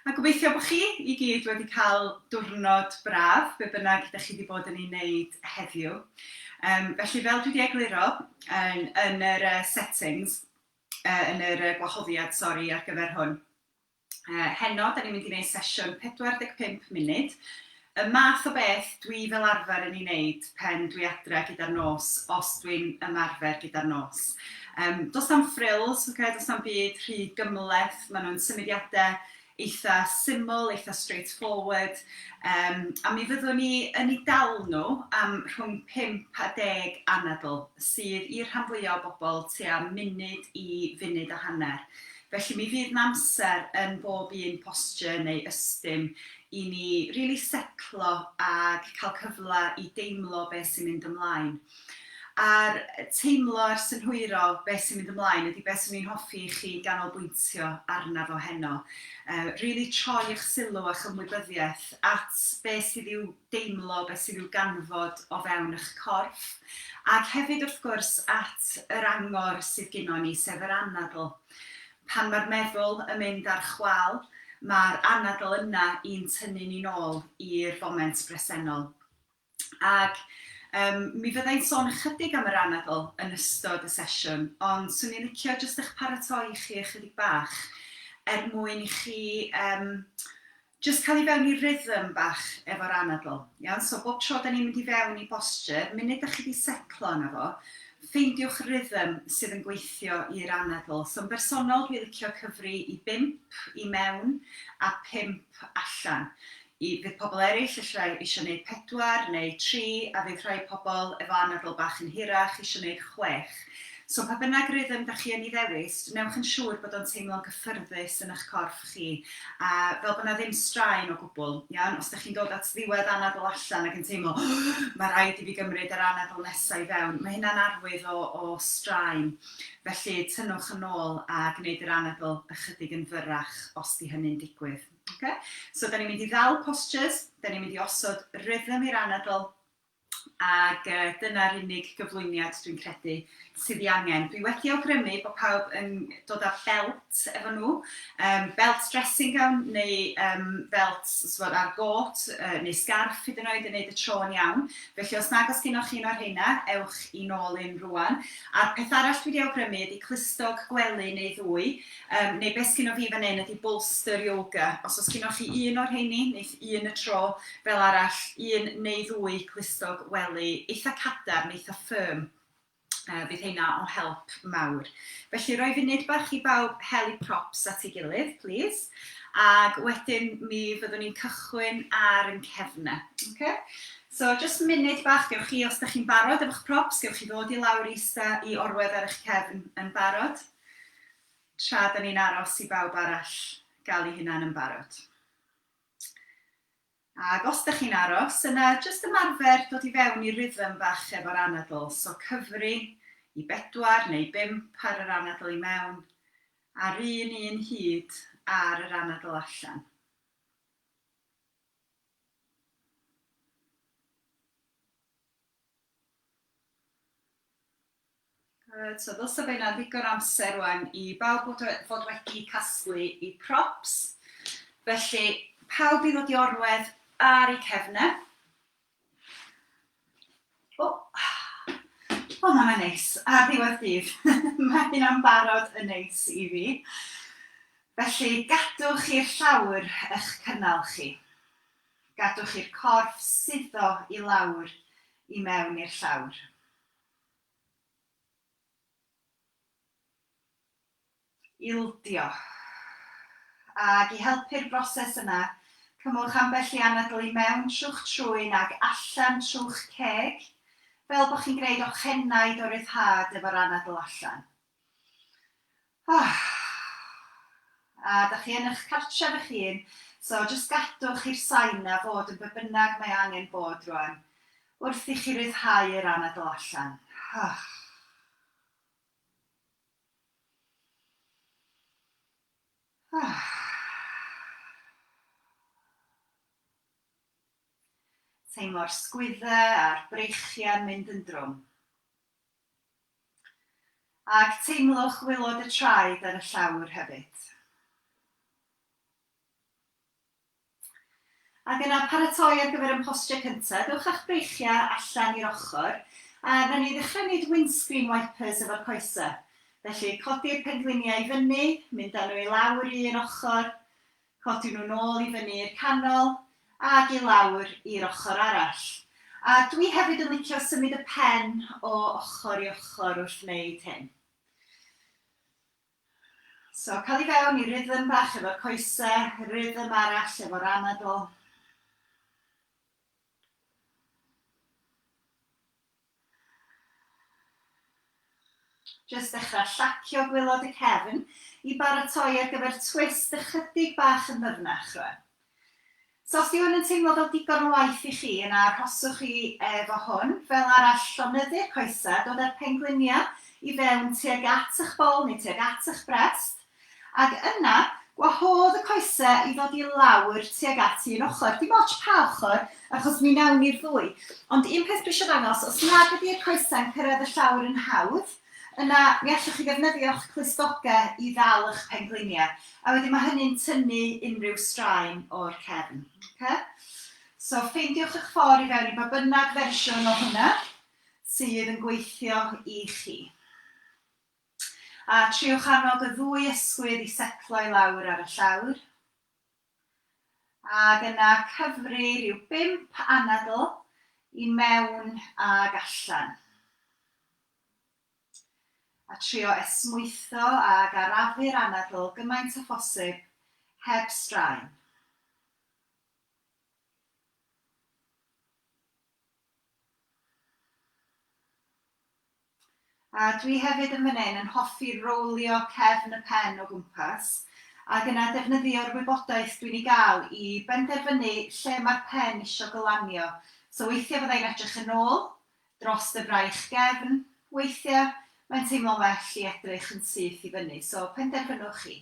A gobeithio bod chi i gyd wedi cael diwrnod braf, be bynnag ydych chi wedi bod yn ei wneud heddiw. Um, felly, fel dwi wedi egluro yn, yn yr uh, settings, uh, yn yr uh, gwahoddiad, sori, ar gyfer hwn, uh, heno, da ni'n mynd i wneud sesiwn 45 munud, Y math o beth dwi fel arfer yn ei wneud pen dwi adre gyda'r nos, os dwi'n ymarfer gyda'r nos. Yym, does na'm frills, ocê, does na'm byd rhy gymhleth, maen nhw'n symudiadau eitha syml, eitha straightforward, um, a mi fyddwn ni yn ei dal nhw am rhwng 5 a 10 anadl, sydd i'r rhan fwyaf o bobl tua munud i funud a hanner. Felly mi fydd 'namser yn bob un posture neu ystum i ni rili setlo ag cael cyfle i deimlo be sy'n mynd ymlaen. A'r teimlo a'r synhwyro be sy'n mynd ymlaen ydy be swn i'n hoffi i chi ganolbwyntio arna fo heno. Rili troi 'ych sylw a'ch ymwybyddiaeth at be sydd i'w deimlo beth sydd i'w ganfod o fewn eich corff, ac hefyd wrth gwrs at yr angor sydd gynnon ni, sef yr anadl. Pan mae'r meddwl yn mynd ar chwâl, mae'r anadl yna i'n tynnu ni'n ôl i'r foment bresennol. Ac um, mi fydda i'n sôn ychydig am yr anadl yn ystod y sesiwn, ond swn i'n licio jyst eich paratoi chi ychydig bach er mwyn i chi um, Jyst cael i fewn i rhythm bach efo'r anadl. Iawn? So bob tro 'da ni'n mynd i fewn i boschur, munud 'da chi 'di setlo yna fo, ffeindiwch rhythm sydd yn gweithio i'r anadl. So yn bersonol dwi licio cyfri i bump i mewn a pump allan. I, fydd pobl eraill ella isio neud pedwar neu tri a fydd rhai pobl efo anadl bach yn hirach isio neud chwech. So pa bynnag rhythm da chi yn i ddewis, wnewch yn siŵr bod o'n teimlo'n gyffyrddus yn ych corff chi, a fel bod 'na ddim straen o gwbl, iawn? Os da chi'n dod at ddiwedd anadl allan ac yn teimlo ma' raid i fi gymryd yr anadl nesa i fewn, ma' hynna'n arwydd o o straen, felly tynnwch yn ôl a gneud yr anadl ychydig yn fyrrach os 'di hynny'n digwydd. Ocê? So 'dan ni'n mynd i ddal postures, 'dan ni'n mynd i osod rhythm i'r anadl, ac dyna'r unig gyflwyniad dwi'n credu sydd ei angen. Dwi wedi awgrymu bod pawb yn dod â felt efo nhw, um, belt dressing gown neu um, felt sfod ar got uh, neu scarf hyd yn oed yn neud y tro yn iawn. Felly os nag os gynnwch chi un o'r heina, ewch i nôl un rwan. A'r peth arall dwi wedi awgrymu ydy clustog gwely neu ddwy, Yym, neu beth sgynnoch chi fan 'yn ydi bolster yoga. Os oes gynnoch chi un o'r rheini, neith un y tro, fel arall, un neu ddwy clustog wely eitha cadarn, eitha firm, yy fydd heina o help mawr. Felly roi funud bach i bawb hel i props at ei gilydd, plîs, ag wedyn mi fyddwn ni'n cychwyn ar yn cefn e. Oce? So jyst munud bach, gewch chi, os da chi'n barod efo'ch props, gewch chi ddod i lawr i ista i orwedd ar eich cefn yn barod. tra da ni'n aros i bawb arall gael eu hunain yn barod. Ac os da chi'n aros, yna jyst ymarfer dod i fewn i rhythm bach efo'r anadl, so cyfri i bedwar neu bump ar yr anadl i mewn, a'r un un hyd ar yr anadl allan. Good, so ddylse fe yna ddigon amser rwan i bawb fod, fod wedi casglu i props. Felly, pawb i ddod i orwedd ar ei cefnau. O, o mae'n neis, ar ddiwedd dydd. mae hynna'n barod yn neis i fi. Felly, gadwch i'r llawr eich cynnal chi. Gadwch i'r corff suddo i lawr i mewn i'r llawr. Ildio. Ac i helpu'r broses yna, cymwch ambell i anadl i mewn trw'ch trwyn ac allan trw'ch ceg, fel bod chi'n gwneud ochenaid o ryddhad efo'r anadl allan. Ah. A dach chi yn eich cartref eich hun, so jyst gadwch i'r sain 'na fod yn be' bynnag mae angen bod rwan, wrth i chi ryddhau yr anadl allan. Ah. Ah. Teimlo'r sgwydde a'r breichiau'n mynd yn drwm. Ac teimlwch waelod y traed ar y llawr hefyd. Ac yna paratoi ar gyfer ein postio cynta. Dewch â'ch breichiau allan i'r ochr a wnawn ni ddechrau wneud windscreen wipers efo'r coesau. Felly, codi'r pengliniau i fyny, mynd â nhw i lawr i un ochr, Codi nhw nôl i fyny i'r canol ag i lawr i'r ochr arall. A dwi hefyd yn licio symud y pen o ochr i ochr wrth wneud hyn. So, cael i fewn i rhythm bach efo'r coese, rhythm arall efo'r anadl. Jyst dechrau llacio gwylod y cefn i baratoi ar gyfer twist ychydig bach yn ddyfnach rwan. So os dyw hwn yn teimlo fel digon o waith i chi yna arhoswch chi efo hwn. Fel arall, llonyddu'r coesau, dod â'r pengliniau i fewn tuag at eich bol neu tuag at eich brest. Ac yna, gwahodd y coese i ddod i lawr tuag at un ochr. Dim ots pa ochr, achos mi wnawn ni'r ddwy. Ond un peth dwi eisiau ddangos, os nad ydy'r coesau'n cyrraedd y llawr yn hawdd, yna mi allwch chi ddefnyddio'ch clustogau i ddal y'ch pengliniau. A wedyn mae hynny'n tynnu unrhyw straen o'r cefn. Oce? So, ffeindiwch y'ch ffordd i fewn i ba bynnag fersiwn o hwnna sydd yn gweithio i chi. A triwch annog y ddwy ysgwydd i setlo i lawr ar y llawr, ac yna cyfri rhyw bump anadl i mewn ag allan. A trio esmwytho ac arafu'r anadl gymaint â phosib heb straen. A dwi hefyd yn fan hyn yn hoffi rowlio cefn y pen o gwmpas ac yna defnyddio'r wybodaeth dwi'n ei gael i benderfynu lle mae'r pen isio gylanio. So weithiau fydda i'n edrych yn ôl, dros y fraich gefn, weithiau mae'n teimlo'n well i edrych yn syth i fyny, so penderfynwch chi.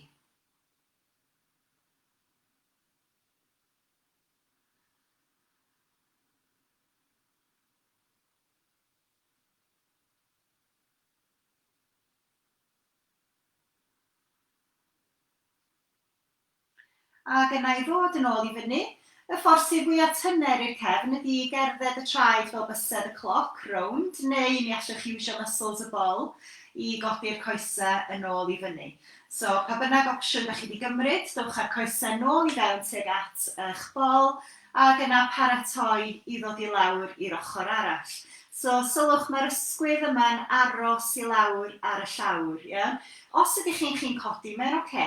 Ac yna i ddod yn ôl i fyny, y ffordd sydd fwya' tyner i'r cefn ydi i gerdded y traed fel bysedd y cloc, rownd, neu mi allwch iwsio muscles y bol i godi'r coese yn ôl i fyny. So, pa bynnag opsiwn dach chi wedi gymryd, dowch â'r coesau nôl i fewn tuag at eich bol, ac yna paratoi i ddod i lawr i'r ochr arall. So, sylwch, mae'r ysgwydd yma'n aros i lawr ar y llawr, ie? Os ydych chi'n chi'n codi, mae'n ocê,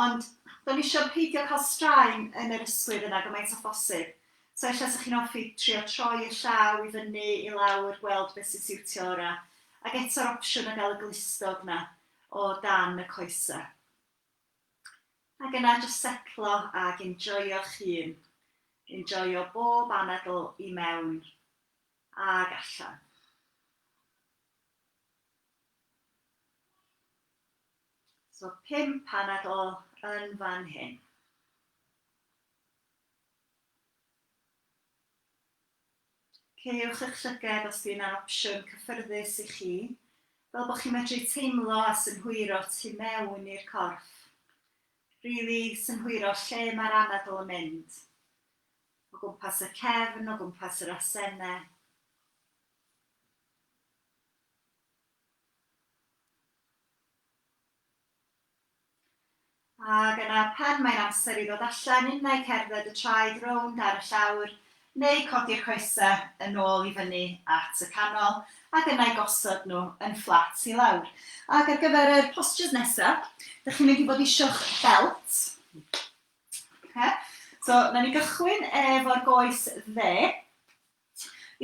ond da ni isio peidio cael straen yn yr ysgwydd yna gymaint â phosib. So, ella 'sech chi'n hoffi trio troi y llaw i fyny, i lawr, gweld beth sy'n siwtio orau. Ac eto'r opsiwn o gael y glustog 'na, o dan y coesau. Ac yna jyst setlo ac enjoio'ch hun. Enjoio bob anadl i mewn ag allan. So pump anadl yn fan hyn. Ceiwch eich llyged os di hynna'n opsiwn cyffyrddus i chi, fel bod chi'n medru teimlo a synhwyro tu mewn i'r corff. Rili synhwyro lle mae'r anadl yn mynd. O gwmpas y cefn, o gwmpas yr asene. Ac yna pan mae'n amser i ddod allan innau cerdded y traed rownd ar y llawr, neu codi'r coesau yn ôl i fyny at y canol, ac yna i gosod nhw yn fflat i lawr. Ac ar gyfer yr postures nesa, dych chi'n mynd i fod isio'ch belt. Oce? So, wna ni gychwyn efo'r goes dde.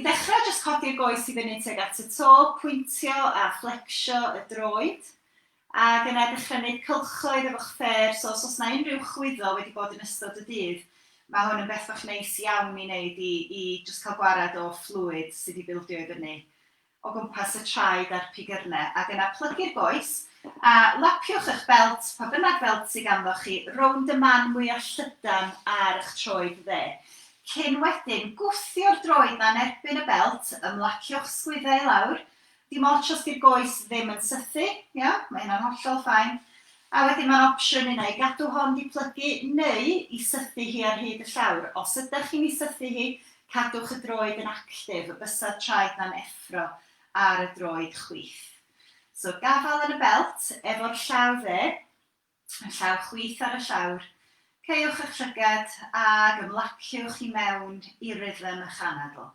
I ddechrau, jyst codi'r goes i fyny tuag at y to, pwyntio a fflecsio y droed, ac yna dechrau wneud cylchoedd efo'ch ffêr, so os oes yna unrhyw chwyddo wedi bod yn ystod y dydd, mae hwn yn beth bach neis iawn i wneud i i jyst cael gwared o fflwid sydd wedi bildio i fyny. o gwmpas y traed a'r pigyrne, ac yna plygu'r goes, a lapiwch eich belt, pa bynnag felt sy ganddoch chi, rownd y man mwya' llydan ar y'ch troed dde. Cyn wedyn gwthio'r droed 'na yn erbyn y belt, ymlaciwch sgwydde i lawr, dim otsh os 'di'r goes ddim yn sythu, iawn, mae hynna'n hollol fine, a wedyn ma'n opsiwn unai i gadw hon 'di plygu neu i sythu hi ar hyd y llawr. Os ydach chi'n 'i sythu hi, Cadwch y droed yn actif, y bysedd traed na'n effro ar y droed chwith. So gafael yn y belt, efo'r llaw dde, y llaw chwith ar y llawr. Caewch eich llygad ag ymlaciwch i mewn i rhythm ych anadl.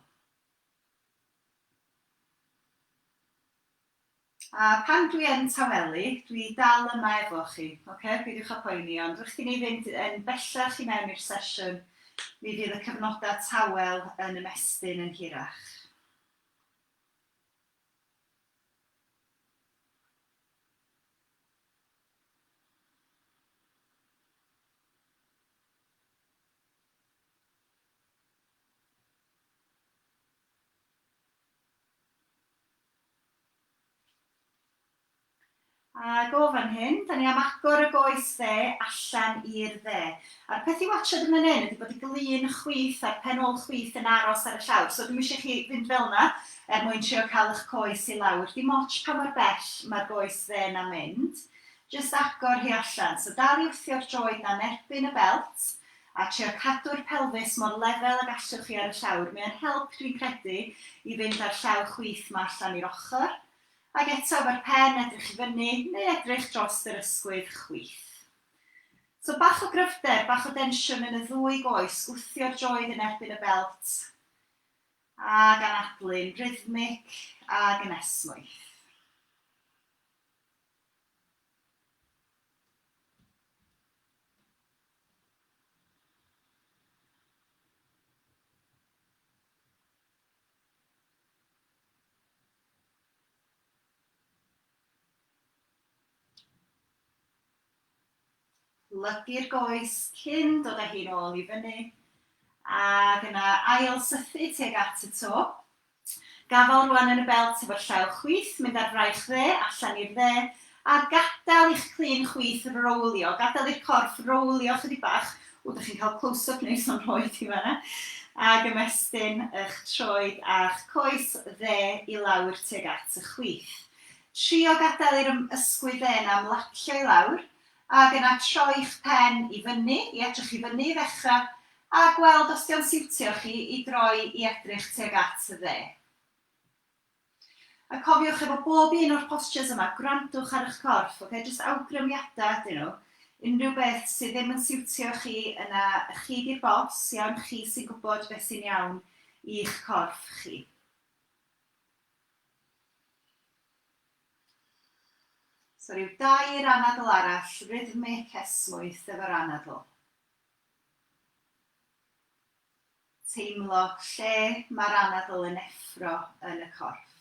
A pan dwi yn tawelu, dwi dal yma efo chi, ocê? Peidiwch â poeni, ond wrth i ni fynd yn bellach i mewn i'r sesiwn, mi fydd y cyfnodau tawel yn ymestyn yn hirach. Ac o fan hyn, dan ni am agor y goes dde allan i'r dde. A'r peth i watsiad yn fan hyn ydy bod y glun chwith a'r pen ôl chwith yn aros ar y llawr. So dwi'm eisiau i chi fynd fel 'na er mwyn trio cael eich coes i lawr. Dim ots pa mor bell mae'r goes dde 'na'n mynd, jyst agor hi allan. So dal i wthio'r droed 'na yn erbyn y belt, a trio cadw'r pelfis mor lefel ag allwch chi ar y llawr, mae o'n help dwi'n credu i fynd â'r llaw chwith 'ma allan i'r ochr, ac eto efo'r pen edrych i fyny neu edrych drost yr ysgwydd chwith. So bach o gryfder, bach o densiwn yn y ddwy goes, gwthio'r droed yn erbyn y belt ac anadlu'n rhythmic ag yn esmwyth. Plygu'r goes cyn dod â hi'n ôl i fyny ac yna ail sythu tuag at y to. T. Gafal rwan yn y belt efo'r llaw chwith, mynd ar fraich dde, allan i'r dde, a gadael i'ch clun chwith rowlio, gadael i'r corff rowlio chydig bach, ww dych chi'n cael close up neis o'n nhroed i fan'na, ag ymestyn y'ch troed a'ch coes dde i lawr tuag at y chwith. Trio gadael i'r ysgwydd dde 'na ymlacio i lawr, Ac yna troi'ch pen i fyny, i edrych i fyny i ddechrau, a gweld os 'di o'n siwtio chi i droi i edrych tuag at y dde. A cofiwch efo bob un o'r postures yma, gwrandwch ar 'ych corff, ocê, jyst awgrymiadau ydyn nhw, unrhyw beth sydd ddim yn siwtio chi, yna chi 'di'r boss, iawn, chi sy'n gwybod beth sy'n iawn i'ch corff chi. So rhyw dair anadl arall, rhythmic, esmwyth efo'r anadl. Teimlo lle mae'r anadl yn effro yn y corff.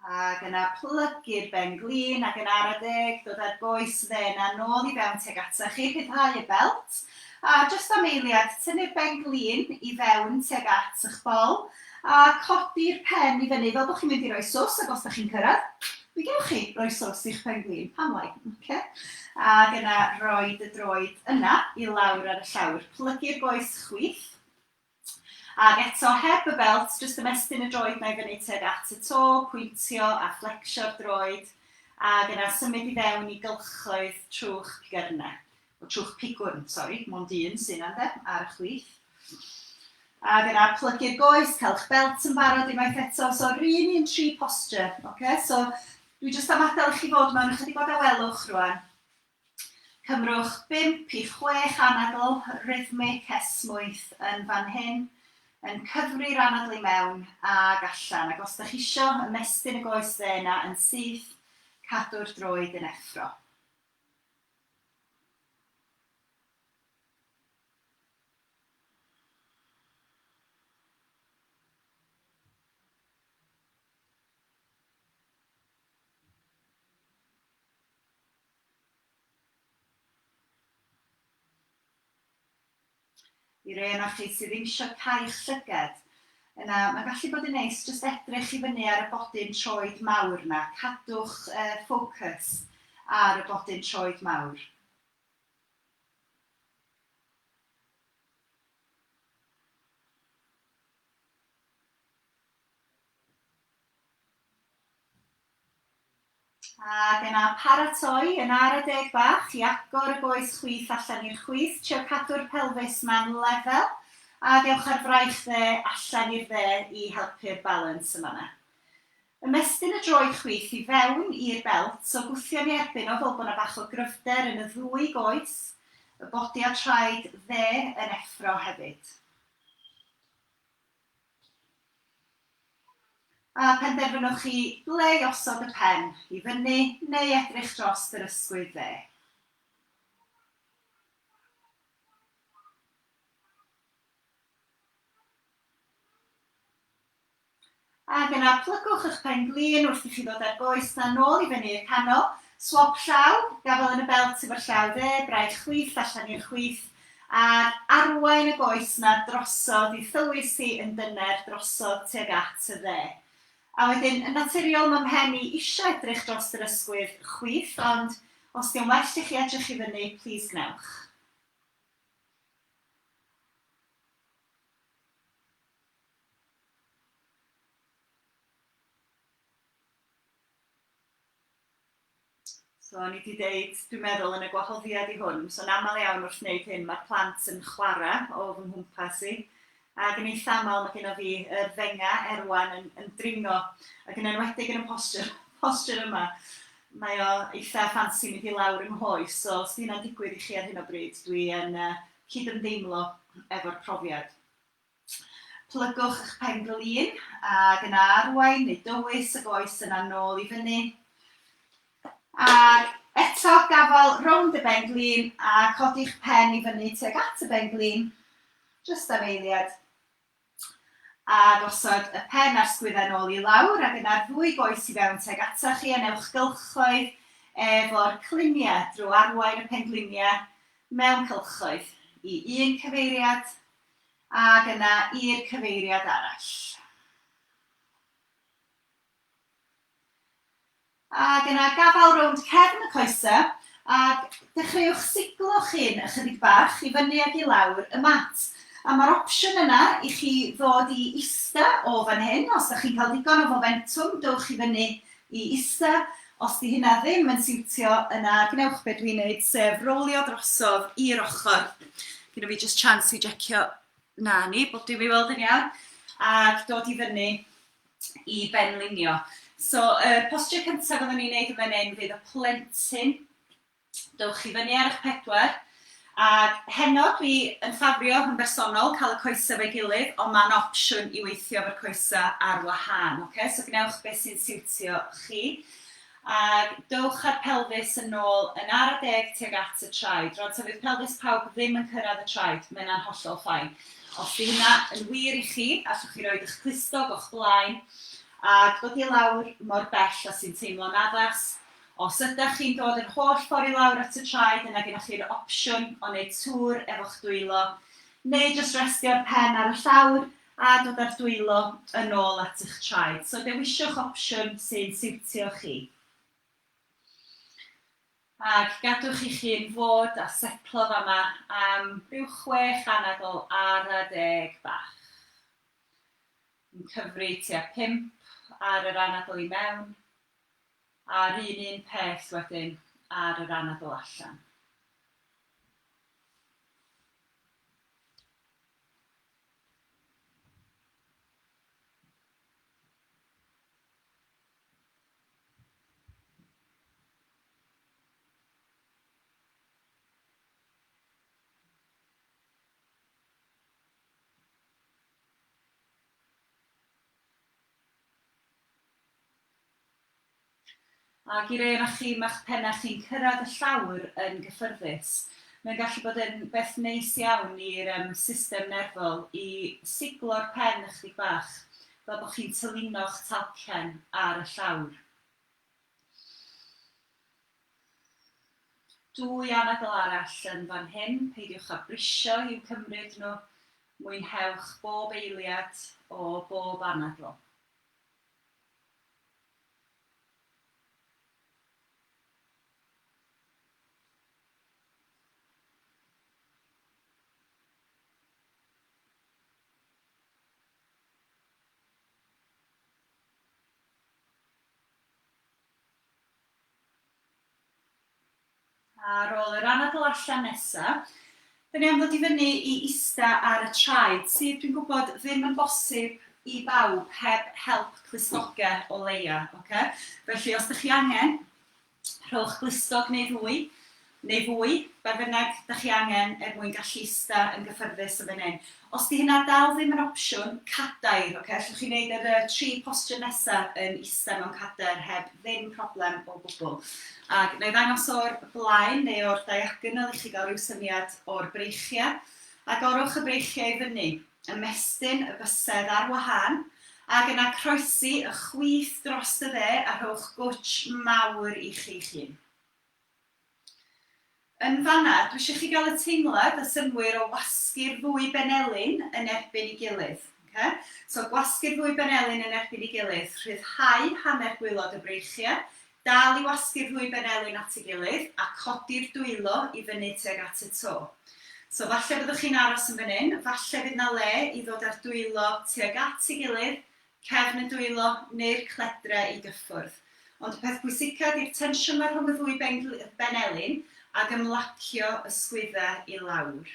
Ac yna plygu'r ben glin ac yn ara deg dod â'r goes dde 'na nôl i fewn tuag ata chi, rhyddhau y belt, a jyst am eiliad tynnu'r ben glin i fewn tuag at y'ch bol a codi'r pen i fyny fel bod chi'n mynd i roi sws ac os da chi'n cyrraedd, mi gewch chi roi sws i'ch pen glin, pam lai? Oce? Ac yna rhoid y droed yna i lawr ar y llawr, plygu'r goes chwith, Ac eto, heb y belt, jyst ymestyn y droed 'na i fyny tuag at y to, pwyntio a flecsio'r droed, ac yna symud i fewn i gylchoedd trwch pigyrne, o trwch pigwrn, sori, mond un sy'n yna ynde, ar y chwith. Ac yna plygu'r goes, cael'ch belt yn barod unwaith eto, so yr un un tri posture, oce? So dwi jyst am adael i chi fod mewn ychydig o dawelwch rwan, Cymrwch bump i chwech anadl rhythmig esmwyth yn fan hyn, yn cyfri'r anadl i mewn ag allan, ac os dych chi isio ymestyn y goes dde yna yn syth, cadw'r droed yn effro. I rei ohonoch chi sydd ddim eisiau cael llygad, yna mae'n gallu bod yn neis jyst edrych i fyny ar y bodyn troed mawr 'na, cadwch ffocws ar y bodyn troed mawr. Ac yna paratoi yn ara deg bach i agor y goes chwith allan i'r chwith, trio cadw'r pelfis 'ma'n lefel, ac ewch â'r fraich dde allan i'r dde i helpu'r balans yn fan'na. Ymestyn y droed chwith i fewn i'r belt o gwthion i erbyn o fel bod 'na bach o gryfder yn y ddwy goes, y bodi a'r traed dde yn effro hefyd. A phenderfynwch chi ble i osod y pen, i fyny neu edrych drost yr ysgwydd dde. Ac yna plygwch y'ch pen glin wrth i chi ddod ar goes dan nôl i fyny i'r canol. Swop llaw, gafael yn y belt efo'r llaw dde, braich chwith allan i'r chwith, Ar arwain y goes 'na drosodd i thywys hi yn dyner drosodd tuag at y dde. A wedyn, yn naturiol, ma' mhen i isio edrych drost yr ysgwydd chwith, ond os 'di o'n well i chi edrych i fyny, plîs gwnewch. So, o'n i wedi deud, dwi'n meddwl, yn y gwahoddiad i hwn, so'n aml iawn wrth wneud hyn, mae'r plant yn chwarae o fy nghwmpas i, ac yn eitha aml mae gen i fi y fenga erwan yn, yn dringo, ac yn enwedig yn y posture, posture yma. Mae o eitha ffansi mynd i lawr yng nghoes, so os di hynna'n digwydd i chi ar hyn o bryd, dwi yn uh, cydymdeimlo efo'r profiad. Plygwch eich pen-glin, ac yna arwain neu dywys y goes yna nôl i fyny. Ac eto, gafael rownd y ben-glin a codi'ch pen i fyny tuag at y ben-glin, jyst am eiliad. A gosod y pen a'r sgwyddau nôl i lawr, ac yna'r ddwy goes i fewn tuag atoch chi, a newch gylchoedd efo'r cliniau drwy arwain y pen-gliniau mewn cylchoedd i un cyfeiriad, Ac yna i'r cyfeiriad arall. Ac yna gafael rownd cefn y coesau ac dechreuwch siglo chyn ychydig bach i fyny ac i lawr y mat. A mae'r opsiwn yna i chi ddod i ista o fan hyn, os da chi'n cael digon o fomentwm dowch i fyny i ista, Os 'di hynna ddim yn siwtio, yna gwnewch be dwi'n neud, sef rowlio drosodd i'r ochr. Gynna fi just chance i jecio, na ni, bob dim i weld yn iawn, ac dod i fyny i benlinio. So, y postio cyntaf fyddwn ni'n neud yn fan hyn fydd y plentyn Dowch i fyny ar eich pedwar. Ac heno dwi yn ffafrio yn bersonol cael y coesau efo'i gilydd ond mae'n opsiwn i weithio efo'r coesau ar wahân ocê so gwnewch beth sy'n siwtio chi. Ac dowch â'r pelfis yn ôl yn ara deg tuag at y traed. Rwan ta fydd pelfis pawb ddim yn cyrraedd y traed, mae hynna'n hollol fine. Os 'di hynna yn wir i chi, allwch chi roid eich clustog o'ch blaen ac dod i lawr mor bell a sy'n teimlo'n addas Os ydach chi'n dod yr holl ffordd i lawr at y traed yna gennych chi'r opsiwn o wneud tŵr efo'ch dwylo neu jyst restio'r pen ar y llawr a dod â'r dwylo yn ôl at y'ch traed, so dewisiwch opsiwn sy'n siwtio chi. Ac gadwch i'ch hun fod a setlo fama am ryw chwech anadl ara deg bach. Yn cyfri tua pump ar yr anadl i mewn. A'r un un peth wedyn ar yr anadl allan. Ac i rei ohonoch chi, mae'ch pennau chi'n cyrraedd y llawr yn gyffyrddus. Mae'n gallu bod yn beth neis iawn i'r system nerfol i siglo'r pen ychydig bach, fel bod chi'n tylino'ch talcen ar y llawr. Dwy anadl arall yn fan hyn, peidiwch â brisio i'w cymryd nhw, mwynhewch bob eiliad o bob anadl. Ar ôl yr anadl allan nesa, dan ni am ddod i fyny i ista ar y traed, sydd dwi'n gwybod ddim yn bosib i bawb heb help clustoge o leia, oce? Felly os dych chi angen, rhowch glustog neu ddwy neu fwy, be bynnag dach chi angen er mwyn gallu ista yn gyffyrddus yn fan hyn. Os 'di hynna dal ddim yn opsiwn, cadair, ocê, allwch chi wneud yr yy tri posture nesa yn ista mewn cadair heb ddim problem o gwbwl. Ag wna i ddangos o'r blaen neu o'r diagonal i chi gael ryw syniad o'r breichiau. Agorwch y breichiau i fyny, ymestyn y bysedd ar wahân, ag yna croesi y chwith dros y dde a rhowch gwtsh mawr i chi'ch hun. Yn fan'na, dwi isio chi gael y teimlad a synnwyr o wasgu'r ddwy benelin yn erbyn 'i gilydd. Oce? So, gwasgu'r ddwy benelin yn erbyn 'i gilydd, rhyddhau hanner gwaelod y breichiau, dal i wasgu'r ddwy benelin at ei gilydd, a codi'r dwylo i fyny tuag at y to. So, falle byddwch chi'n aros yn fan hyn, falle fydd 'na le i ddod â'r dwylo tuag at ei gilydd, cefn y dwylo neu'r cledre i gyffwrdd. Ond y peth pwysica ydi'r tensiwn 'ma rhwng y ddwy benglin ag ymlacio y sgwydda i lawr.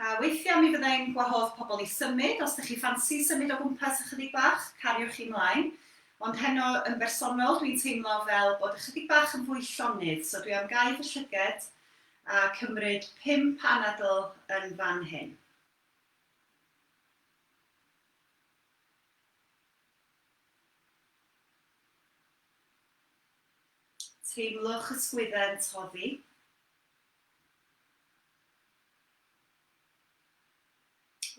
A weithia mi fydda i'n gwahodd pobl i symud, os 'da chi ffansi symud o gwmpas ychydig bach, cariwch i mlaen. Ond heno yn bersonol dwi'n teimlo fel bod ychydig bach yn fwy llonydd, so dwi am gau fy llyged A cymryd pum panadl yn fan hyn. Teimlwch y sgwydde'n toddi.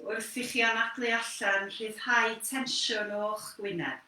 Wrth i chi anadlu allan, rhyddhau tensiwn o'ch gwyneb.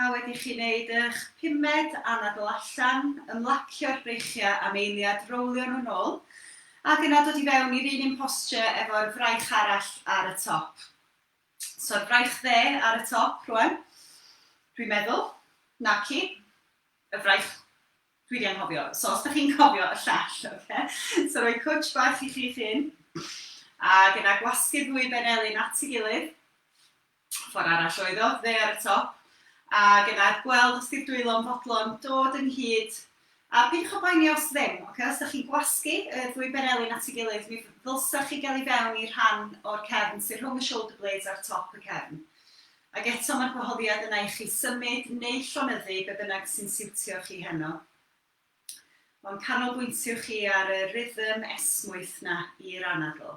A wedi i chi wneud eich pumed anadl allan, ymlacio'r breichiau am eiliad, rowlio nhw'n ôl, ac yna dod i fewn i'r un un posture efo'r fraich arall ar y top. So'r fraich dde ar y top rwan, dwi'n meddwl, naci, y fraich Dwi 'di anghofio, so os 'da chi'n cofio y llall, oce? So rhoi cwtsh bach i chi'ch hun, ac yna gwasgu'r ddwy ben elyn at ei gilydd, ffordd arall oedd o, fe ar y top, ac yna gweld os 'di'r dwylo'n fodlon dod ynghyd, a peidiwch â poeni os ddim, oce? Os 'da chi'n gwasgu y ddwy ben elyn at ei gilydd, mi ddylsa chi gael i fewn i'r rhan o'r cefn sydd rhwng y shoulder blades a'r top y cefn. Ac eto mae'r gwahoddiad yna i chi symud neu llonyddu be bynnag sy'n siwtio chi heno. O'n canolbwyntio chi ar y rhythm esmwyth 'na i'r anadl.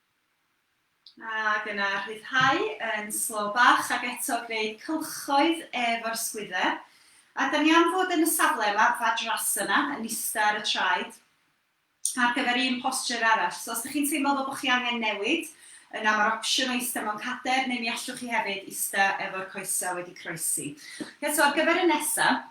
Ac yna rhyddhau yn slo bach ac eto gwneud cylchoedd efo'r sgwydder. A dan ni am fod yn y safle yma, Vajrasana, yn ista ar y traed, ar gyfer un posture arall. So os dych chi'n teimlo fel bod chi angen newid, yna mae'r opsiwn o ista mewn cader, neu mi allwch chi hefyd ista efo'r coesau wedi croesi. Eto, ar gyfer y nesaf,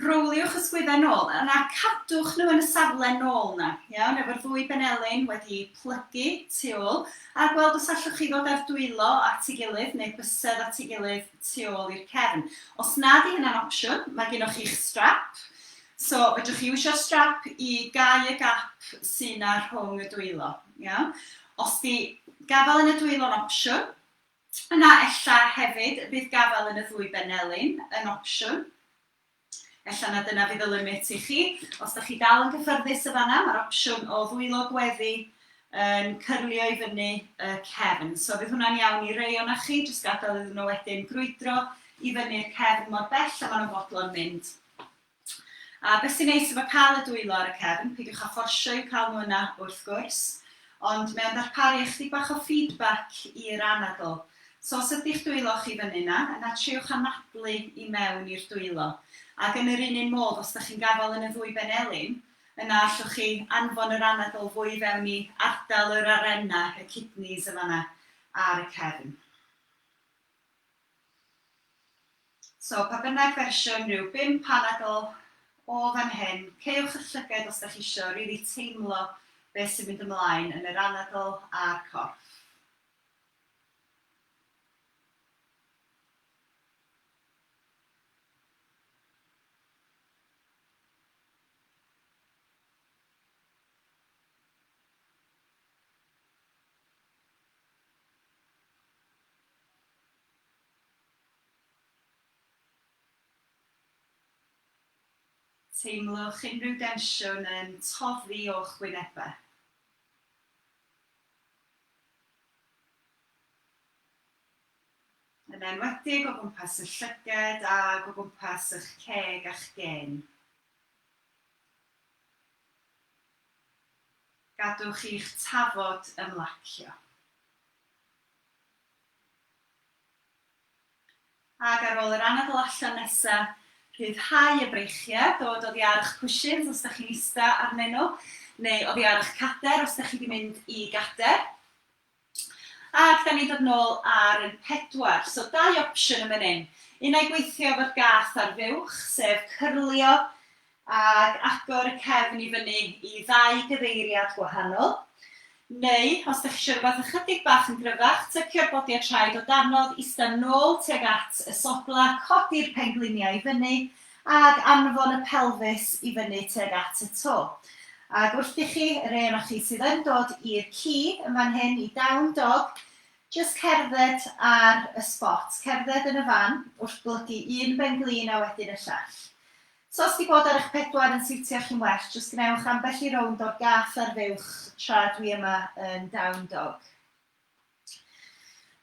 Rowliwch y sgwyddau nôl yna, cadwch nhw yn y safle nôl yna, iawn, efo'r ddwy benelin wedi plygu tu ôl, a gweld os allwch chi ddod â'r dwylo at ei gilydd, neu bysedd at ei gilydd tu ôl i'r cefn. Os na 'di hynna'n opsiwn, mae gennoch chi'ch strap, so fedrwch chi iwsio'r strap i gau y gap sy' 'na rhwng y dwylo, iawn. Os 'di gafael yn y dwylo'n opsiwn, Yna ella hefyd y bydd gafael yn y ddwy benelin yn opsiwn. Ella na dyna fydd y limit i chi. Os da chi dal yn gyffyrddus y fanna, mae'r opsiwn o ddwylo gweddi yn cyrlio i fyny y cefn. So fydd hwnna'n iawn i rei o'na chi, jyst gadael iddyn nhw wedyn grwydro i fyny'r cefn mor bell a maen nhw'n fodlon mynd. A beth sy'n neis efo cael y dwylo ar y cefn, peidiwch â fforsio i'w cael nhw yna wrth gwrs, ond mae o'n darparu ychydig bach o feedback i'r anadl. So os ydi'ch dwylo chi fyny yna, yna triwch anadlu i mewn i'r dwylo. Ac yn yr un un modd, os dach chi'n gafael yn y ddwy ben elin, yna allwch chi anfon yr anadl fwy i fewn i ardal yr arena, y kidneys yn fan'na ar y cefn. So, pa bynnag fersiwn, rhyw bum panadl o fan hyn, cewch y llyged os da chi isio rili teimlo beth sy'n mynd ymlaen yn yr anadl a'r corff. Teimlwch unrhyw densiwn yn toddi o'ch wynebau. Yn enwedig o gwmpas y llyged ac o gwmpas y'ch ceg a'ch gên. Gadwch i'ch tafod ymlacio. Ac ar ôl yr anadl allan nesa, rhyddhau y breichiau, dod oddi ar eich cwshins os da chi'n ista arnyn nhw, neu oddi ar eich cader os da chi di mynd i gader. Ac da ni'n dod nôl ar yn pedwar. So dau opsiwn yn fan hyn. Un ai gweithio efo'r gath ar fuwch, sef cyrlio ac agor y cefn i fyny i ddau gyfeiriad gwahanol, neu, os dych chi eisiau rhywbeth ychydig bach yn gryfach, tycio'r bodiau traed o danodd ista'n nôl tuag at y sogla, codi'r pengliniau i fyny ac anfon y pelfis i fyny tuag at y to. Ac wrth i chi, y rhei onoch chi sydd yn dod i'r ci yn fan hyn, i Down Dog, jyst cerdded ar y sbot, cerdded yn y fan wrth blygu un benglin a wedyn y llall. Os oes dy bod ar eich pedwar yn siwtio chi'n well, jyst gwnewch ambell i rownd o'r gath ar fuwch tra dwi yma yn Down Dog.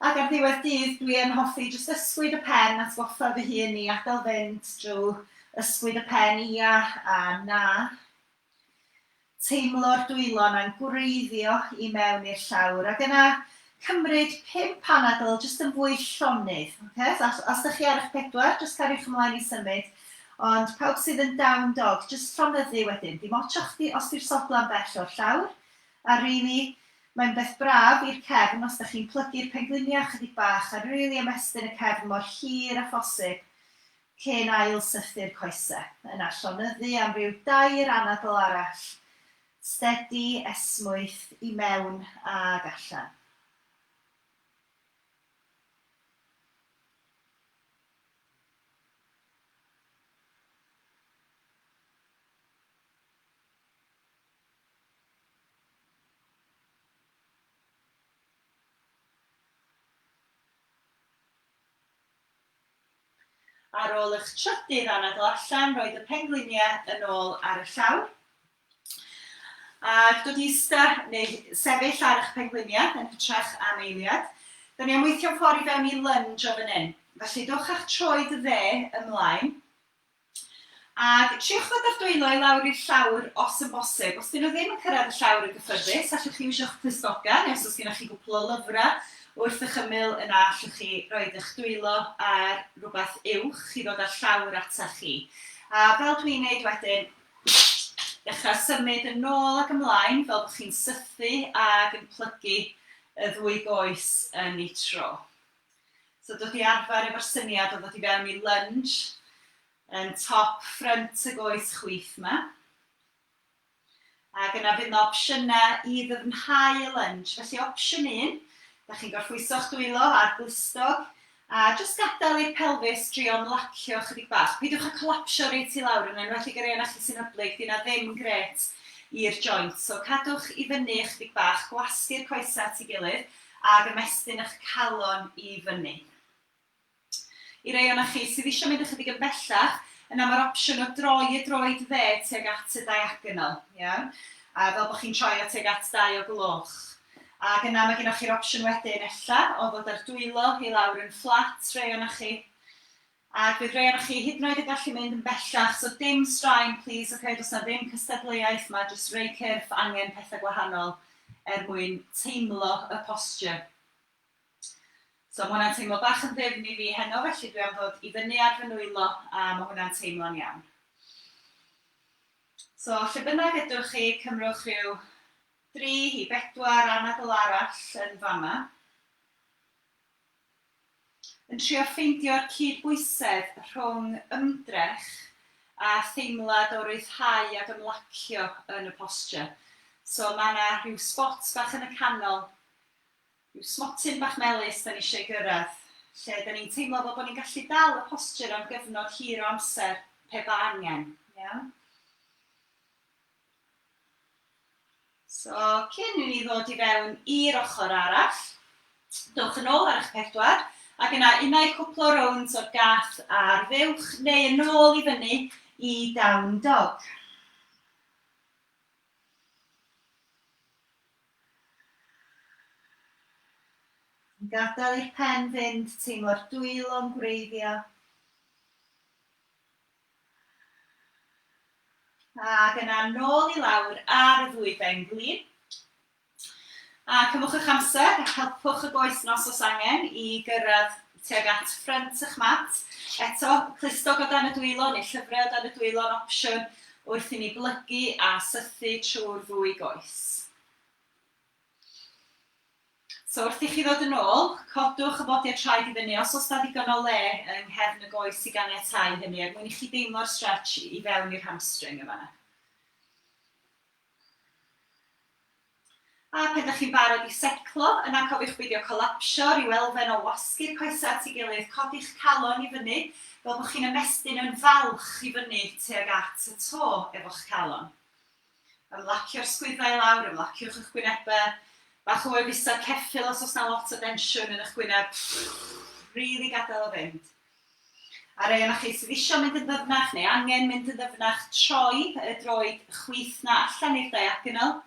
Ac ar ddiwedd dydd dwi yn hoffi jyst ysgwyd y pen, atgoffa fy hun i adael fynd drwy ysgwyd y pen ia a na. Teimlo'r dwylo'n angwreiddio i mewn i'r llawr ac yna cymryd pum panadl jyst yn fwy llonydd, ocê? Os os 'dych chi ar 'ych pedwar jyst cariwch ymlaen i symud ond pawb sydd yn down dog jyst llonyddu wedyn, dim ots o chdi os 'di'r sodla'n bell o'r llawr a rili mae'n beth braf i'r cefn os 'dych chi'n plygu'r pengliniau chydig bach a rili ymestyn y cefn mor hir â phosib cyn ail-sythu'r coesau, yna llonyddu am ryw dair anadl arall, stedi, esmwyth, i mewn ag allan. Ar ôl i'ch trydydd anadl allan, rhoid y pengliniau yn ôl ar y llawr. Ac dod i ista neu sefyll ar eich pengliniau yn hytrach am eiliad. Da ni am weithio'n ffordd i fewn i lunge o fan hyn. Felly dowch â'ch troed dde ymlaen, Ac triwch ddod â'r dwylo i lawr i'r llawr os yn bosib. Os 'dyn nhw ddim yn cyrraedd y llawr yn gyffyrddus, allwch chi wisho'ch clustogau, neu os oes gennych chi gwpl o lyfrau wrth eich ymyl, yna allwch chi roid eich dwylo ar rywbeth uwch chi ddod â'r llawr atach chi. A fel dwi'n gwneud wedyn, dechrau symud yn nôl ac ymlaen fel bod chi'n sythu ac yn plygu y ddwy goes yn eu tro. So dod i arfer efo'r syniad o ddod i fewn i lunge yn top ffrynt y goes chwith 'ma. Ac yna fydd 'na opsiynau i ddyfnhau y lunge. Felly opsiwn un, da chi'n gorffwyso'ch dwylo a'r glustog, a jyst gadael i'r pelfis drio'n lacio chydig bach. Peidiwch â colapsio reit i lawr, yn enwedig y rei ohonoch chi sy'n hyblyg, 'di hynna ddim grêt i'r joints. So cadwch i fyny ychydig bach, gwasgu'r coesau at ei gilydd, Ag ymestyn eich calon i fyny. I rei ohonoch chi sydd eisiau mynd ychydig yn bellach, yna mae'r opsiwn o droi y droed dde tuag at y diagonal, iawn? A fel bod chi'n troi o tuag at dau o gloch. Ac yna mae gennych chi'r opsiwn wedyn, ella, o ddod â'r dwylo i lawr yn fflat, rei ohonoch chi. Ac fydd rhei onoch chi hyd yn oed yn gallu mynd yn bellach, so dim straen plîs ok, does 'na ddim cystadleuaeth 'ma, jyst rhei cyrff angen pethau gwahanol er mwyn teimlo y posture. So ma' hwnna'n teimlo bach yn ddyfn i fi heno felly dwi am ddod i fyny ar fy nwylo a ma' hwnna'n teimlo'n iawn. So lle bynnag ydwch chi cymrwch rhyw dri i bedwar anadl arall yn fama. Yn trio ffeindio'r cyd-bwysedd rhwng ymdrech a theimlad o ryddhau ac ymlacio yn y posture. So mae yna rhyw sbot bach yn y canol, rhyw smotyn bach melys 'da ni eisiau ei gyrraedd, lle 'da ni'n teimlo fel bod ni'n gallu dal y posture am gyfnod hir o amser pe ba angen. Iawn? So, cyn i ni ddod i fewn i'r ochr arall, dowch yn ôl ar eich pedwar, ac yna unai cwpl o rownd o'r gath ar fuwch neu yn ôl i fyny i down dog. Gadael i'r pen fynd, teimlo'r dwylo'n gwreiddio. Ac yna nôl i lawr ar y ddwyben glin. A cymwch eich amser, helpwch y goes nos os angen i gyrraedd tuag at ffrynt eich mat. Eto, clustog o dan y dwylo neu llyfrau o dan y dwylo yn opsiwn wrth i ni blygu a sythu trwy'r ddwy goes. So wrth i chi ddod yn ôl, codwch y bodiau traed i fyny os oes 'na ddigon o le yng nghefn y goes i ganiatáu hynny er mwyn i chi deimlo'r stretch i fewn i'r hamstring yn fan'na. A pan 'da chi'n barod i seclo, yna cofiwch beidio colapsio, rhyw elfen o wasgu'r coesau at ei gilydd, codi'ch calon i fyny fel bod chi'n ymestyn yn falch i fyny tuag at y to efo'ch calon. Ymlacio'r sgwyddau i lawr, ymlaciwch eich gwynebau. Bach o wefusau ceffyl os oes na lot o densiwn yn eich gwyneb. Rili gadael o fynd. A rei o'na chi sydd isio mynd yn ddyfnach neu angen mynd yn ddyfnach, troi y droed chwith na allan i'r diagonal.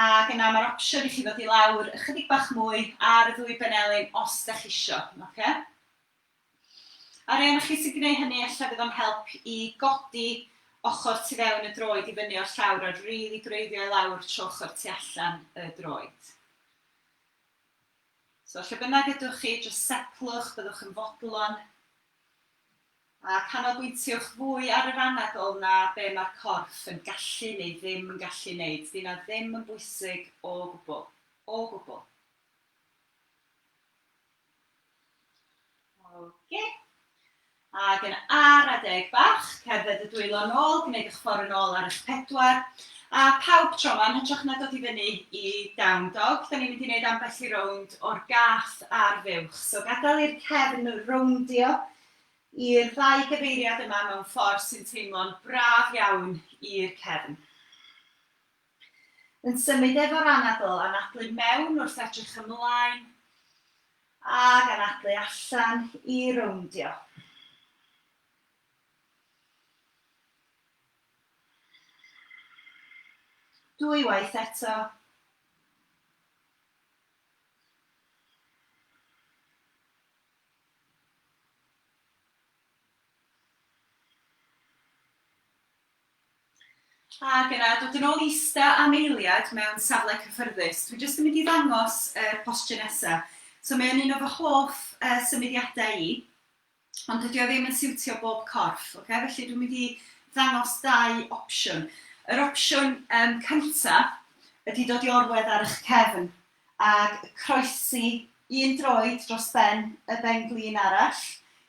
Ac yna mae'r opsiwn i chi ddod i lawr ychydig bach mwy ar y ddwy benelin os da chi isio. Okay? Ar rai ohonoch chi sy'n gwneud hynny ella fydd o'n help i godi ochr tu fewn y droed i fyny o'r llawr a rili gwreiddio i lawr trwy ochr tu allan y droed. So lle bynnag ydwch chi, jyst setlwch, byddwch yn fodlon, a canolbwyntiwch fwy ar yr anadl na be mae'r corff yn gallu neu ddim yn gallu wneud, dyna ddim yn bwysig o gwbl, o gwbl. Oce. Ac yn ar adeg bach, cerdded y dwylo nôl, gwneud eich ffordd yn ôl ar eich pedwar. A pawb tro yma, yn hytrach na dod i fyny i Down Dog, da ni'n mynd i wneud ambell i rownd o'r gath a'r fuwch. So gadael i'r cefn rowndio i'r ddau gyfeiriad yma mewn ffordd sy'n teimlo'n braf iawn i'r cefn. Yn symud efo'r anadl, anadlu mewn wrth edrych ymlaen, ac anadlu allan i rowndio. Dwy waith eto. Ac yna, dod yn ôl i ista am eiliad mewn safle cyffyrddus. Dwi jyst yn mynd i ddangos yr postio nesa. So mae o'n un o fy hoff yy symudiadau i, ond dydi o ddim yn siwtio bob corff, ocê? Felly dwi'n mynd i ddangos dau opsiwn. Yr opsiwn yym cynta ydi dod i orwedd ar 'ych cefn. ag y croesi un droed dros ben y ben-glin arall,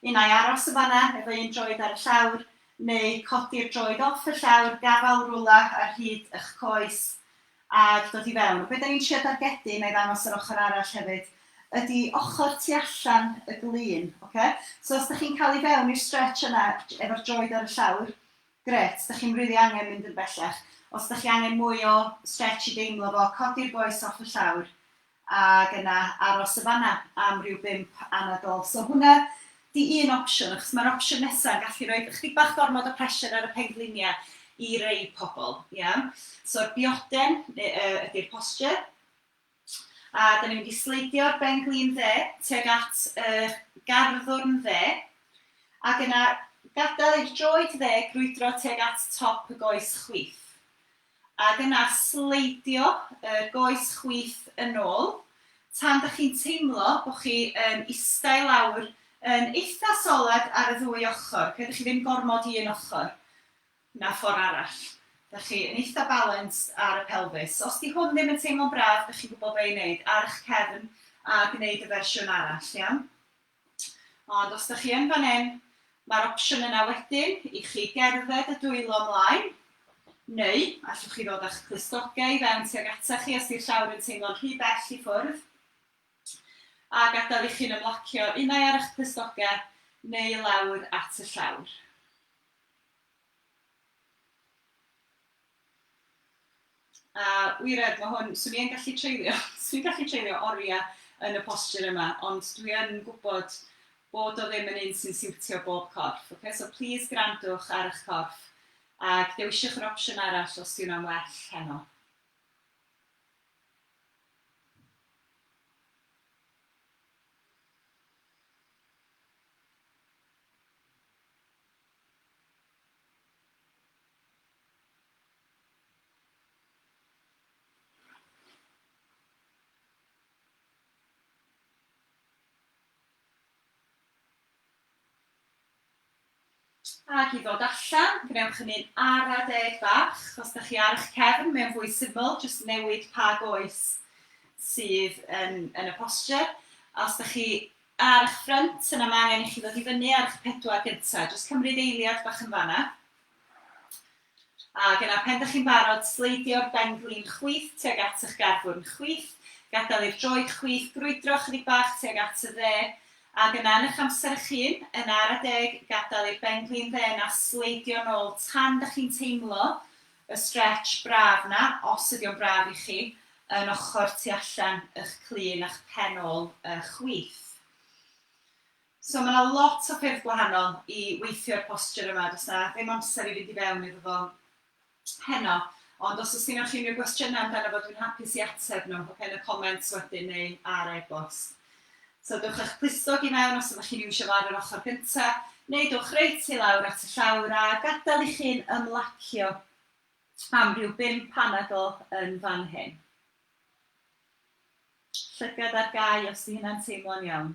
un ai aros yn fan'na efo un droed ar y llawr, neu codi'r droed off y llawr, gafael rwla ar hyd y'ch coes, ag dod i fewn. Be' 'dan ni'n trio dargedu, na'i ddangos yr ochr arall hefyd, ydi ochr tu allan y glin, ocê? So os 'dach chi'n ca'l i fewn i'r stretch yna efo'r droed ar y llawr, Grêt, dych chi'm rili angen mynd yn bellach. Os dych chi angen mwy o stretch i deimlo fo, codi'r goes off y llawr ag yna aros y fan'na am ryw bump anadl. So hwnna 'di un opsiwn, achos ma'r opsiwn nesa yn gallu roid ychydig bach gormod o pressure ar y penglinia i rei pobl, iawn? So'r bioden ydi'r posture. A dan ni'n mynd i sleidio ben glin dde, tuag at y garddwrn dde, ac yna gadael i'r droed dde grwydro tuag at top y goes chwith. Ac yna sleidio y goes chwith yn ôl, tan da chi'n teimlo bod chi yn istai lawr yn eitha' solet ar y ddwy ochr, credwch chi ddim gormod i un ochr. na ffor arall. Dach chi yn eitha balanced ar y pelfis. Os 'di hwn ddim yn teimlo'n braf, dych chi'n gwybod be i wneud, ar 'ych cefn a gwneud y fersiwn arall, iawn? Ond os dych chi yn fan hyn, mae'r opsiwn yna wedyn i chi gerdded y dwylo mlaen, neu allwch chi ddod â'ch clustogau i fewn tuag ata chi os 'di'r llawr yn teimlo'n rhy bell i ffwrdd, a gadael i chi'n ymlacio unai ar 'ych clustogau neu i lawr at y llawr. A wired, mae hwn, 'swn i yn gallu treulio, 'swn i'n gallu treulio oriau yn y posture yma, ond dwi yn gwybod bod o ddim yn un sy'n siwtio bob corff, ocê? So plis gwrandwch ar eich corff a dewiswch yr opsiwn arall os 'di hwnna'n well heno. Ac i ddod allan, gwnewch hynny'n ara deg bach, os da chi ar eich cefn, mae'n fwy syml, jyst newid pa goes sydd yn, yn y posture. Os da chi Ar ych ffrynt yna mae angen i chi ddod i fyny ar ych pedwar gynta'. Jyst cymryd eiliad bach yn fan'na. Ac yna pan dych chi'n barod, sleidio'r ben-glin chwith tuag at ych garfwrn chwith, gadael i'r droed chwith grwydro chydig bach tuag at y dde, ac yna yn ych amser ych hun, yn ara deg, gadael i'r ben-glin dde 'na sleidio nôl tan dych chi'n teimlo y stretch braf 'na, os ydi o'n braf i chi, yn ochr tu allan y'ch clun a'ch pen ôl y chwith. So ma' 'na lot o ffyrdd gwahanol i weithio'r posture yma, does 'na ddim amser i fynd i fewn iddo fo heno, ond os oes gynnoch chi unrhyw gwestiynau amdano fo dwi'n hapus i ateb nhw, ocê, yn y comments wedyn neu ar e-bost. So dowch â'ch plisgog i mewn os ydych chi'n iwsio fo ar yr ochr gyntaf, neu dowch reit i lawr at y llawr a gadael i chi'n ymlacio am ryw bump anadl yn fan hyn. Llygad ar gau os 'di hynna'n teimlo'n iawn.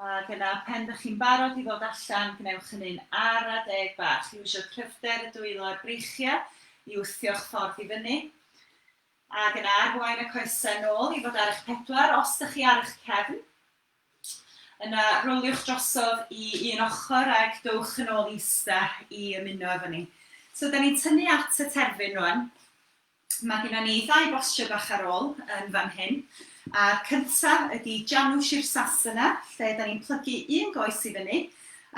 Ac yna, pen dych chi'n barod i ddod allan, gwnewch hynny'n ara deg bach. Dwi eisiau cryfder y dwylo a'r breichiau i wthio'ch ffordd i fyny. Ac yna, arwain y coesau nôl i fod ar eich pedwar, os dych chi ar eich cefn. Yna, roliwch drosodd i un ochr ac dowch yn ôl i ista i ymuno efo ni. So, da ni'n tynnu at y terfyn rwan. Mae gynnon ni ddau bostio bach ar ôl yn fan hyn, a'r cyntaf ydi Janu Shir Sasana, lle 'dan ni'n plygu un goes i fyny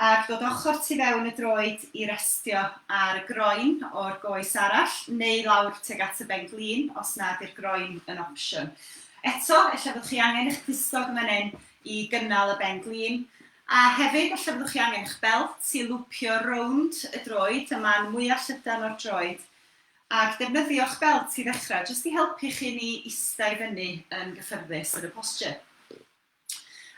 ac dod ochr tu fewn y droed i restio ar y groen o'r goes arall, neu lawr tuag at y ben glin os na 'di'r groen yn opsiwn. Eto, ella fyddwch chi angen eich clustog yn fan hyn i gynnal y ben glin, a hefyd ella fyddwch chi angen eich belt i lwpio rownd y droed, y man mwya' llydan o'r droed, Ac defnyddio'ch belt i ddechrau, jyst i helpu chi ni ista i fyny yn gyffyrddus yn y posture.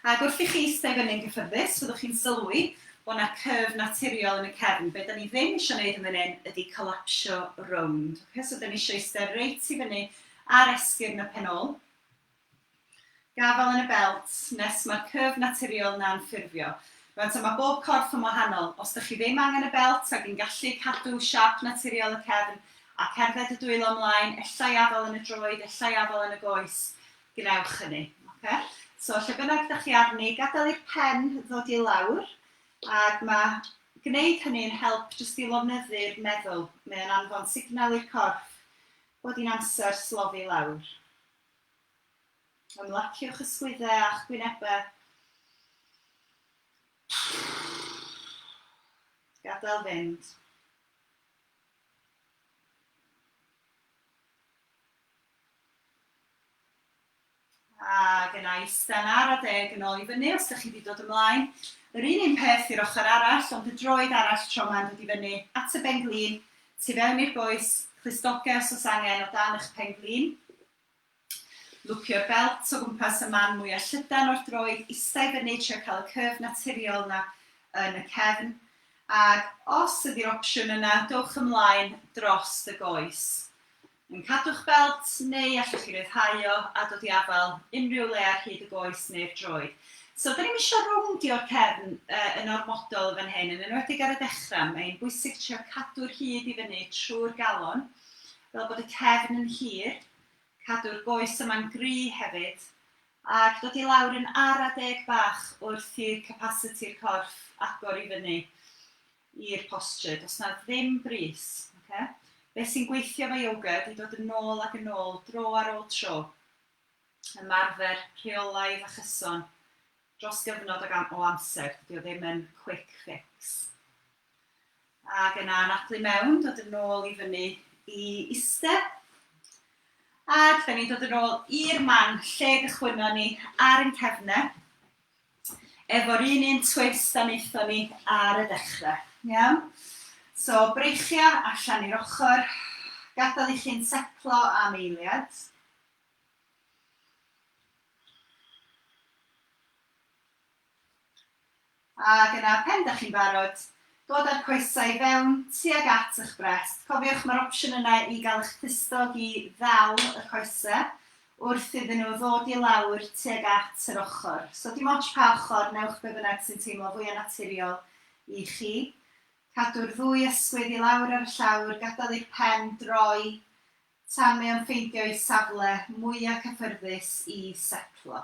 Ac wrth i chi ista i fyny'n gyffyrddus, fyddwch chi'n sylwi bod na curve naturiol yn y cefn. Be da ni ddim eisiau neud yn fan hyn ydi collapsio rownd. Ok, so da ni eisiau ista reit i fyny ar esgyrn y pen ôl. Gafael yn y belt, nes mae'r curve naturiol na'n ffurfio. Rwan ta mae bob corff yn wahanol, os dych chi ddim angen y belt ac yn gallu cadw siap naturiol y cefn a cerdded y dwylo mlaen, ellai afael yn y droed, ellai afael yn y goes, gwnewch hynny. Oce? So, lle bynnag dych chi arni, gadael i'r pen ddod i lawr, ac mae gwneud hynny yn help jyst i lofnyddu'r meddwl. Mae o'n anfon signal i'r corff bod hi'n amser slofi lawr. Ymlaciwch y sgwyddau a'ch gwynebau. Gadael fynd. Ac yna eistedd ar a deg yn ôl i fyny os ydych chi wedi dod ymlaen. Yr un un peth i'r ochr arall, ond y droed arall tro ma'n dod i fyny at y ben glin, Tu fewn i'r bois, clustogers os angen o dan eich pen-glin. Lwcio'r belt o gwmpas y man mwya' llydan o'r droed ista i fyny trio cael y curve naturiol 'na yn y cefn. Ac os ydi'r opsiwn yna, dowch ymlaen drost y goes. Yn cadw'ch belt, neu allwch chi ryddhau o a dod i afael unrhyw le ar hyd y goes neu'r droed. So, 'da ni'm isio rowndio'r cefn yn ormodol yn fan hyn, yn enwedig ar y dechra'. Mae'n bwysig trio cadw'r hyd i fyny trwy'r galon, fel bod y cefn yn hir, cadw'r goes yma'n gry' hefyd, ac dod i lawr yn ara deg bach wrth i'r capasiti'r corff agor i fyny. i'r postry, does na ddim brys, oce? Be sy'n gweithio efo yoga ydy dod yn ôl ac yn ôl, dro ar ôl tro. Ymarfer rheolaidd a chyson dros gyfnod ag am- o amser, dydy o ddim yn quick fix. Ac yna anadlu mewn, dod yn ôl i fyny i iste. Ac da ni'n dod yn ôl i'r man lle gychwynno ni ar yn cefne. Efo'r un un twist a wnaethon ni ar y dechrau. Iawn? So, breichio allan i'r ochr, gadael i chi'n setlo am eiliad. Ac yna, pen da chi'n barod, dod â'r coesau i fewn, tuag at eich brest. Cofiwch, mae'r opsiwn yna i gael eich clustog i ddal y coesau, wrth iddyn nhw ddod i lawr tuag at yr ochr. So dim ots pa ochr, newch be bynnag sy'n teimlo fwya naturiol i chi. Cadw'r ddwy ysgwydd i lawr ar y llawr, gadael i'r pen droi tan mae o'n ffeindio'i safle mwya cyffyrddus i setlo.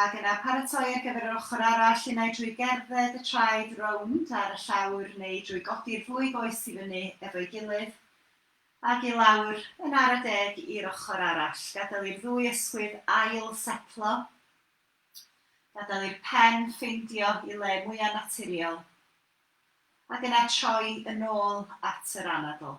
Ac yna paratoi ar gyfer yr ochr arall, unai drwy gerdded y traed rownd ar y llawr neu drwy godi'r ddwy goes i fyny efo'i gilydd ac i lawr yn ara deg i'r ochr arall. Gadael i'r ddwy ysgwydd ail setlo, gadael i'r pen ffeindio i le mwya' naturiol ac yna troi yn ôl at yr anadl.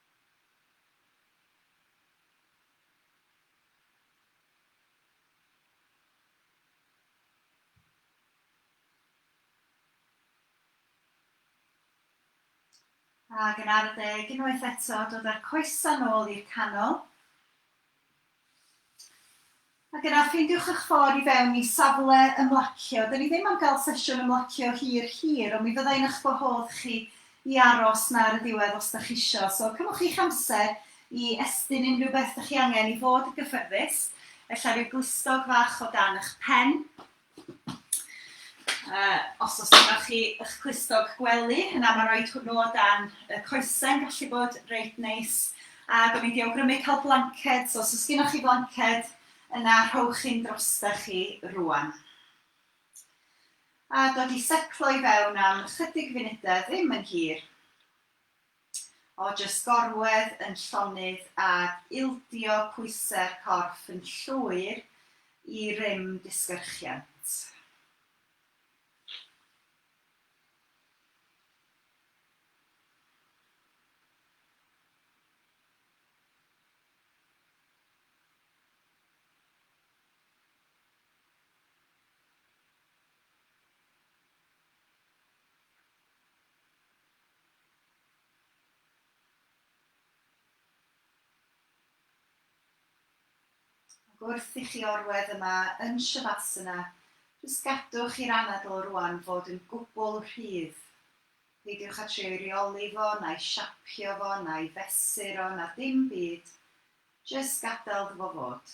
Ac yn arddeg unwaith eto, dod â'r coesau nôl i'r canol. Ac yna ffeindiwch eich ffordd i fewn i safle ymlacio. Dyn ni ddim am gael sesiwn ymlacio hir hir, ond mi fydda i'n eich gwahodd chi i aros 'na ar y ddiwedd os dach chi isio. So cymwch chi'ch amser i estyn unrhyw beth dych chi angen i fod yn gyffyrddus, ella ryw glustog fach o dan 'ych pen, Uh, os oes gyda chi eich clustog gwely, yna mae rhoi hwnnw o dan y coesau'n gallu bod reit neis. A gofyn di awgrymu cael blanced, so os oes gyda chi blanced, yna rhowch hyn drosta chi rwan. A dod i seclo i fewn am ychydig funudau, ddim yn hir. o jyst gorwedd yn llonydd ag ildio pwysau'r corff yn llwyr i rym disgyrchiant. Ac wrth i chi orwedd yma yn Shavasana, jyst gadwch i'r anadl rŵan fod yn gwbl rhydd. Peidiwch â trio i reoli fo, na'i siapio fo, na'i fesur o, na dim byd. Jyst gadael 'ddo fo fod.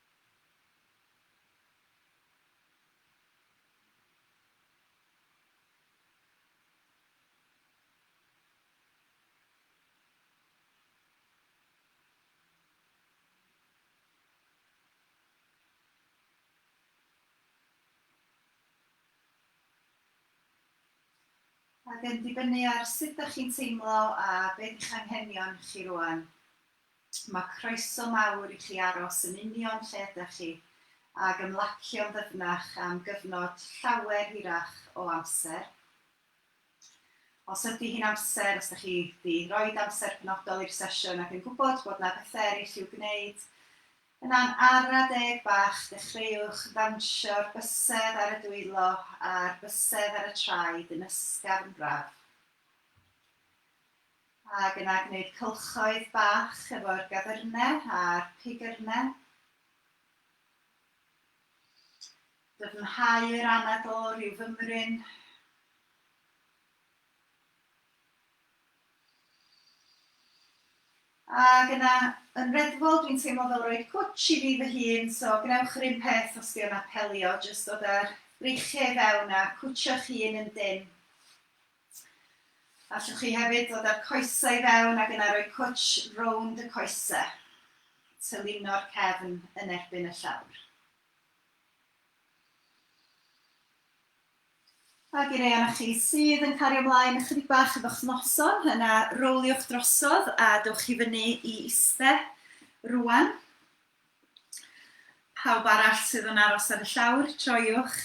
Ac yn dibynnu ar sut dach chi'n teimlo a be' 'di'ch anghenion chi rŵan, Mae croeso mawr i chi aros yn union lle ydych chi ac ymlacio'n ddyfnach am gyfnod llawer hirach o amser. Os ydy hi'n amser, os ydych chi 'di roid amser penodol i'r sesiwn ac yn gwybod bod 'na bethe ereill i'w gwneud, yna'n ara deg bach dechreuwch ddawnsio'r bysedd ar y dwylo a'r bysedd ar y traed yn ysgafn braf. Ac yna gwneud cylchoedd bach efo'r gadyrne a'r pigyrne. Dyfnhau yr anadl o ryw fymryn. Ac yna, yn reddfol, dwi'n teimlo fel rhoi cwtsh i fi fy hun, so gwnewch yr un peth os dio'n apelio, jyst dod â'r breichiau i fewn a cwtshio'ch hun yn dynn. Allwch chi hefyd ddod â'r coesau i fewn ac yna rhoi cwtsh rownd y coesau, tyluno'r cefn yn erbyn y llawr. Ac i rei o'na chi sydd yn cario ymlaen ychydig bach efo'ch noson, yna rowliwch drosodd a dewch chi fyny i iste rwan. Pawb arall sydd yn aros ar y llawr, troiwch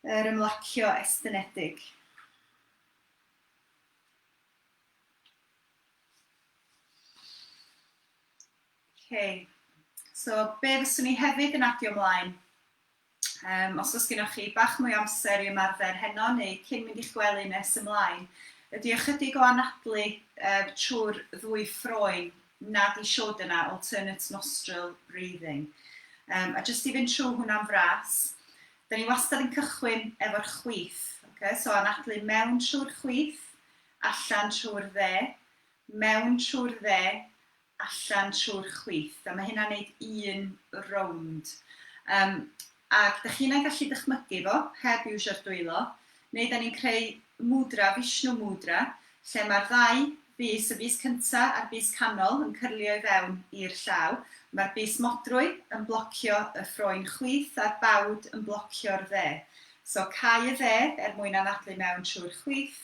Yr ymlacio estynedig. Okay. So, be fyswn ni hefyd yn adio ymlaen? Um, os oes gennych chi bach mwy amser i ymarfer heno neu cyn mynd i'ch gwely nes ymlaen, ydy ychydig o anadlu uh, trwy'r ddwy ffroen nad i siod yna, alternate nostril breathing. Um, a jyst i fynd trwy hwnna'n fras, da ni wastad yn cychwyn efo'r chwith. Okay? So anadlu mewn trwy'r chwith, allan trwy'r dde, mewn trwy'r dde, allan trwy'r chwith. A mae hynna'n neud un rownd. Um, Ac dach chi'n ei gallu dychmygu fo heb iwsio'r dwylo, neu dan ni'n creu Mudra, Vishnu Mudra, lle mae'r ddau bys, y bys cynta a'r bys canol, yn cyrlio i fewn i'r llaw. Mae'r bys modrwy yn blocio y ffroen chwith a'r bawd yn blocio'r dde. So cau y dde er mwyn anadlu mewn trwy'r chwith,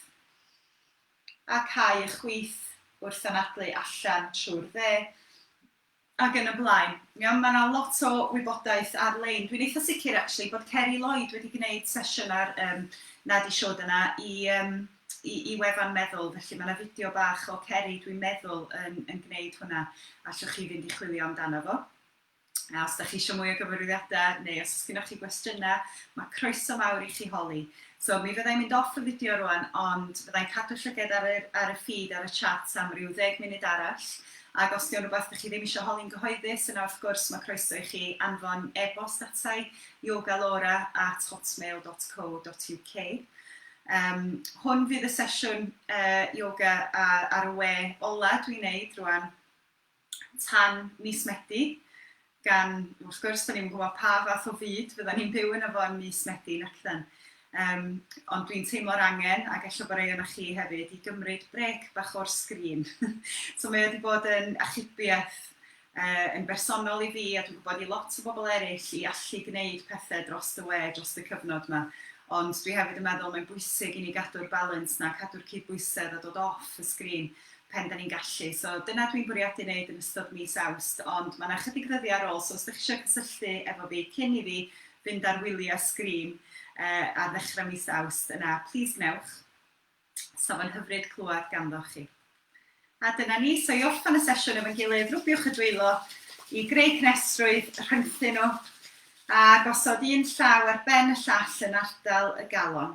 a cau y chwith wrth anadlu allan trwy'r dde. Ac yn y blaen. Iawn, mae yna lot o wybodaeth ar-lein. Dwi'n eitha sicr actually bod Ceri Lloyd wedi gwneud sesiwn ar um, Nadi Siod yna i, um, i, i wefan meddwl, felly mae yna fideo bach o Ceri, dwi'n meddwl, yn, yn gwneud hwnna. Allwch chi fynd i chwilio amdano fo. A os da chi eisiau mwy o gyfarwyddiadau neu os oes gennych chi gwestiynau, mae croeso mawr i chi holi. So mi fyddai'n mynd off y fideo rwan, ond fyddai'n cadw llyged ar y, ar y ffid, ar y chat am ryw ddeg munud arall, Ac os 'di o'n rwbath dych chi ddim isio holi'n gyhoeddus, yna wrth gwrs ma' croeso i chi anfon e-bost ata i, yogalaura at hotmail dot co dot uk. Yym, hwn fydd y sesiwn yy yoga a ar y we ola dwi'n neud rwan tan mis Medi. gan, wrth gwrs, da ni'm yn gwybod pa fath o fyd fydda ni'n byw yn efo yn mis Medi, nac ydyn. Um, ond dwi'n teimlo'r angen, ac eich bod rei o'na chi hefyd, i gymryd brec bach o'r sgrin. so mae wedi bod yn achubiaeth uh, yn bersonol i fi, a dwi'n gwybod i lot o bobl eraill, i allu gwneud pethau dros y we, dros y cyfnod yma. Ond dwi hefyd yn meddwl mae'n bwysig i ni gadw'r balans na, cadw'r cydbwysedd a dod off y sgrin. pen da ni'n gallu. So dyna dwi'n bwriadu wneud yn ystod mis Awst, ond mae yna chydig ddyddiau ar ôl, so os ydych chi eisiau cysylltu efo fi cyn i fi fynd ar wyliau sgrin uh, ar ddechrau mis Awst, yna plis gwnewch. So fo'n hyfryd clywed ganddoch chi. A dyna ni, so i orffen y sesiwn efo'n gilydd, rwbiwch y dwylo i greu cnesrwydd, rhyngthu nhw, a gosod un llaw ar ben y llall yn ardal y galon.